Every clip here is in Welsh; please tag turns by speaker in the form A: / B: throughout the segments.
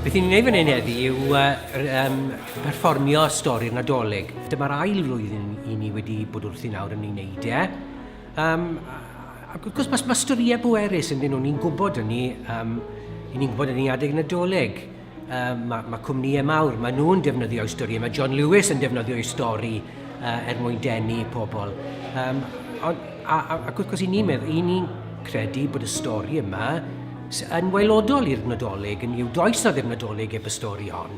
A: Beth ni'n gwneud fan hyn heddi yw uh, um, perfformio stori'r Nadolig. Dyma'r ail flwyddyn i ni wedi bod wrthi nawr yn ei wneud e. Um, ac wrth gwrs, mae, mae storïau bwerus yn dyn nhw, ni'n gwybod hynny, um, ni'n gwybod hynny adeg nadolig. Um, mae, mae cwmnïau mawr, mae nhw'n defnyddio i stori, mae John Lewis yn defnyddio i stori uh, er mwyn denu pobl. Um, on, a, a, ac wrth gwrs, i ni'n meddwl, i ni'n credu bod y stori yma yn waelodol i'r Nadolig, yn i'w does na ddim Nadolig eb y stori hon.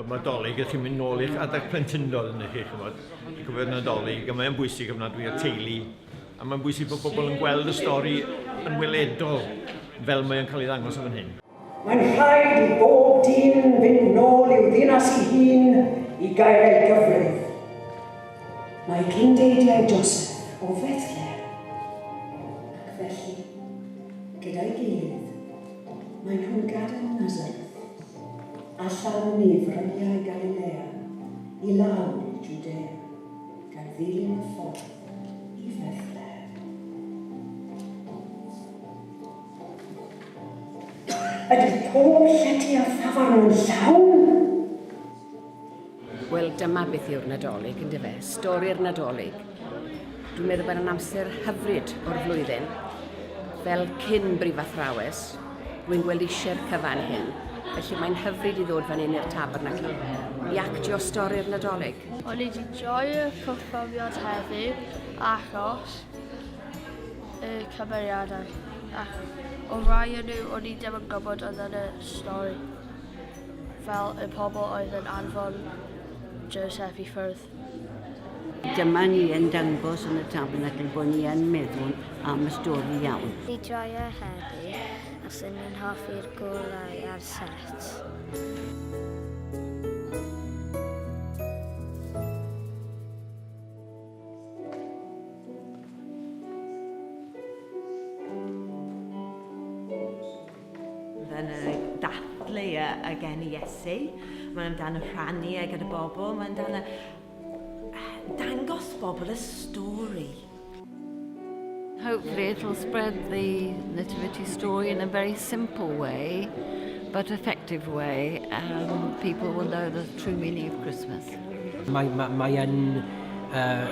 B: Oedd mae dolyg, ydych chi'n mynd nôl i'ch adeg plentyndod yn chi, chymod, i cofio'r nadolig, a mae'n bwysig ofnadwy i'r teulu, a mae'n bwysig bod pobl yn gweld y stori yn weledol fel mae'n cael ei ddangos o fan hyn. Mae'n rhaid
C: i bob dyn fynd nôl i'w ddinas ei hun i gael ei gyfrif. Mae cyndeidiau Joseph o Fethlehem, ac felly, gyda'i gilydd, maen nhw'n gadael Nazareth. A than ni fryniau Galilea i lawr i Jwdea, gan ddilyn y ffordd i Fethlehem. Ydy pob llety a thafarn yn llawn?
D: Wel, dyma beth yw'r Nadolig, yn dyfe? Stori'r Nadolig. Dwi'n meddwl bod yn amser hyfryd o'r flwyddyn. Fel cyn brifathrawes, rwy'n gweld eisiau'r cyfan hyn. Felly mae'n hyfryd i ddod fan hyn i'r tabernacle i actio stori'r Nadolig. O'n i wedi
E: joio'r cyffrofiad heddi achos y cymeriadau. Ac o rai o'n nhw, o'n i ddim yn gwybod oedd yn y stori. fel y pobl oedd yn anfon Joseph i ffwrdd.
F: Dyma ni yn dangos yn y Tabernacl bod ni yn meddwl am y stori iawn. Fi Joio
E: heddi, a swn i'n hoffi'r golau ar set.
G: Mae'n dathlu y gen i Iesu. Mae'n dan y rhannu e gyda bobl. Mae'n dan y dangos bobl y stori.
H: Hopefully it'll spread the nativity story in a very simple way but effective way and people will know the true meaning of Christmas. Mae, mae, mae
A: yn uh,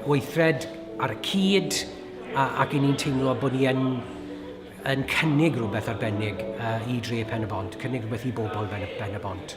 A: weithred ar y cyd ac i ni'n teimlo bod ni yn yn cynnig rhywbeth arbennig i dre Pen-y-bont, cynnig rhywbeth i bobl Ben-y-bont.